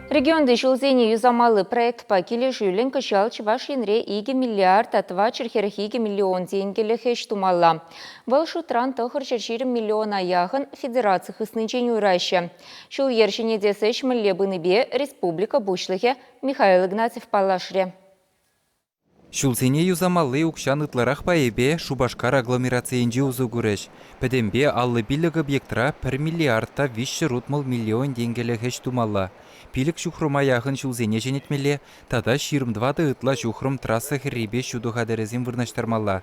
Регионти ҫулсене юсамалли проектпа килӗшӳллӗн кӑҫал Чӑваш Енре икӗ миллиард тӑватҫӗр хӗрӗх икӗ миллион тенкӗлӗх ӗҫ тумалла. Вӑл шутран тӑхӑр ҫӗр ҫирӗм миллиона яхӑн федераци хыснинчен уйӑраҫҫӗ. Ҫул-йӗр ҫӗнетес ӗҫ мӗнле пынипе республика Пуҫлӑхӗ Михаил Игнатьев паллашрӗ. Ҫулсене юсамалли укҫан ытларах пайӗпе Шупашкар агломерацийӗнче усӑ курӗҫ. Пӗтӗмпе аллӑ-пиллӗк объектра пӗр миллиард та виҫҫӗ рутмӑл миллион тенкӗлӗх ӗҫ тумалла, пилӗк ҫухрӑма яхӑн ҫулсене ҫӗнетмелле тата ҫирӗм тӑватӑ ытла ҫухрӑм трасса хӗррипе ҫутӑ хатӗрӗсем вырнаҫтармалла.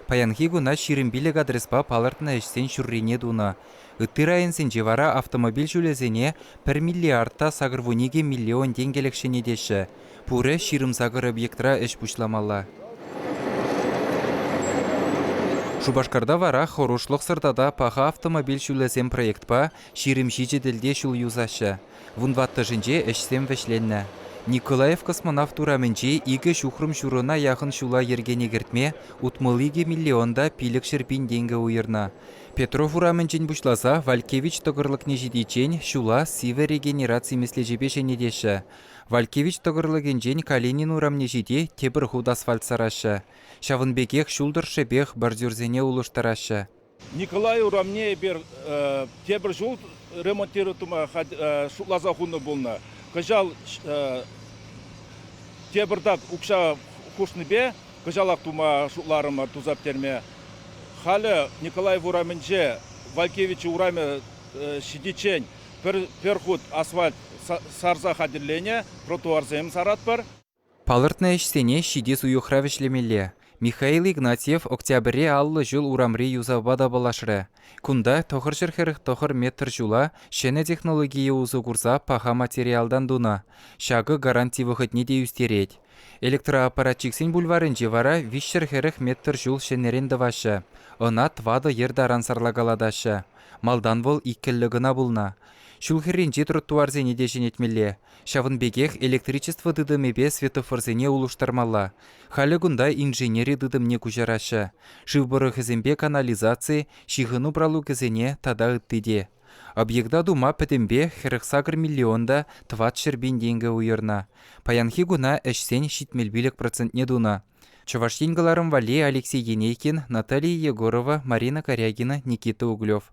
Паянхи куна ҫирӗм пилӗк адреспа палӑртнӑ ӗҫсен ҫуррине тунӑ. Ытти районсенче вара автомобиль ҫулӗсене пӗр миллиард та сакӑрвуникӗ миллион тенкӗлӗх ҫӗнетеҫҫӗ. Пурӗ ҫирӗм-сакӑр объектра ӗҫ пуҫламалла. Шупашкарта вара Хӑрушлӑхсӑр тата паха автомобиль ҫулӗсем проектпа ҫирӗм ҫичӗ тӗлте ҫул юсаҫҫӗ. Вун ваттӑшӗнче ӗҫсем вӗҫленнӗ. Николаев космонавт урамӗнчи икӗ ҫухрӑм ҫурӑна яхӑн ҫула йӗркене кӗртме утмӑл икӗ миллион та пилӗкҫӗр пин тенкӗ уйӑрнӑ. Петров урамӗнчен пуҫласа Вальккевич тӑкӑрлӑкне ҫитиччен ҫула сивӗ регенераци меслечӗпе ҫӗнетеҫҫӗ. Вальккевич тӑкӑрлӑкӗнчен Калинин урамне ҫити тепӗр хут асфальт сараҫҫӗ. Ҫавӑн пекех ҫул тӑршшӗпех бордюрсене улӑштараҫҫӗ. Николай урамне эпир тепӗр ҫул ремонтировать шутласа хунӑ пулнӑ. Кӑҫал тепӗртак укҫа хушнипе кӑҫалах тума шутларӑмӑр туса пӗтерме. Халӗ Николаев урамӗнче Валькевичи урамӗ ҫитиччен пӗр хут асфальт сарса хатӗрленӗ тротуарсем саратпӑр. Палӑртнӑ ӗҫсене ҫитес уйӑхра вӗҫлемелле. Михаил Игнатьев октябре аллӑ ҫул урамри юсавпа тапалашрӗ. Кунта тӑхӑрҫӗр хӗрӗх тӑхӑр метр ҫула ҫӗнӗ технологие усӑ курса паха материалтан тунӑ. Ҫакӑ гаранти вӑхӑтне те ӳстерет. Электроаппаратчиксен бульварӗнче вара виҫҫӗр хӗрӗх метр ҫул ҫӗнӗрен тӑваҫҫӗ. Ӑна тӑватӑ йӗр таран сарлакалатаҫҫӗ. Малтан вӑл иккӗллӗ кӑна пулнӑ. Ҫул хӗрринчи тротуарсене те ҫӗнетмелле. Ҫавӑн пекех электричество тытӑмӗпе светофорсене улӑштармалла. Халӗ кунта инженери тытӑмне куҫараҫҫӗ. Шыв пӑрӑхӗсемпе канализаци, ҫыхӑну пралукӗсене тата ытти те. Объекта тума пӗтӗмпех хӗрӗх сакӑр миллион та тӑват ҫӗр пин тенкӗ уйӑрнӑ. Паянхи куна ӗҫсен ҫитмӗл пилӗк процентне тунӑ. Чӑваш Ен кӑларӑм валли Алексей Енейкин, Наталья Егорова, Марина Корягина, Никита Углев.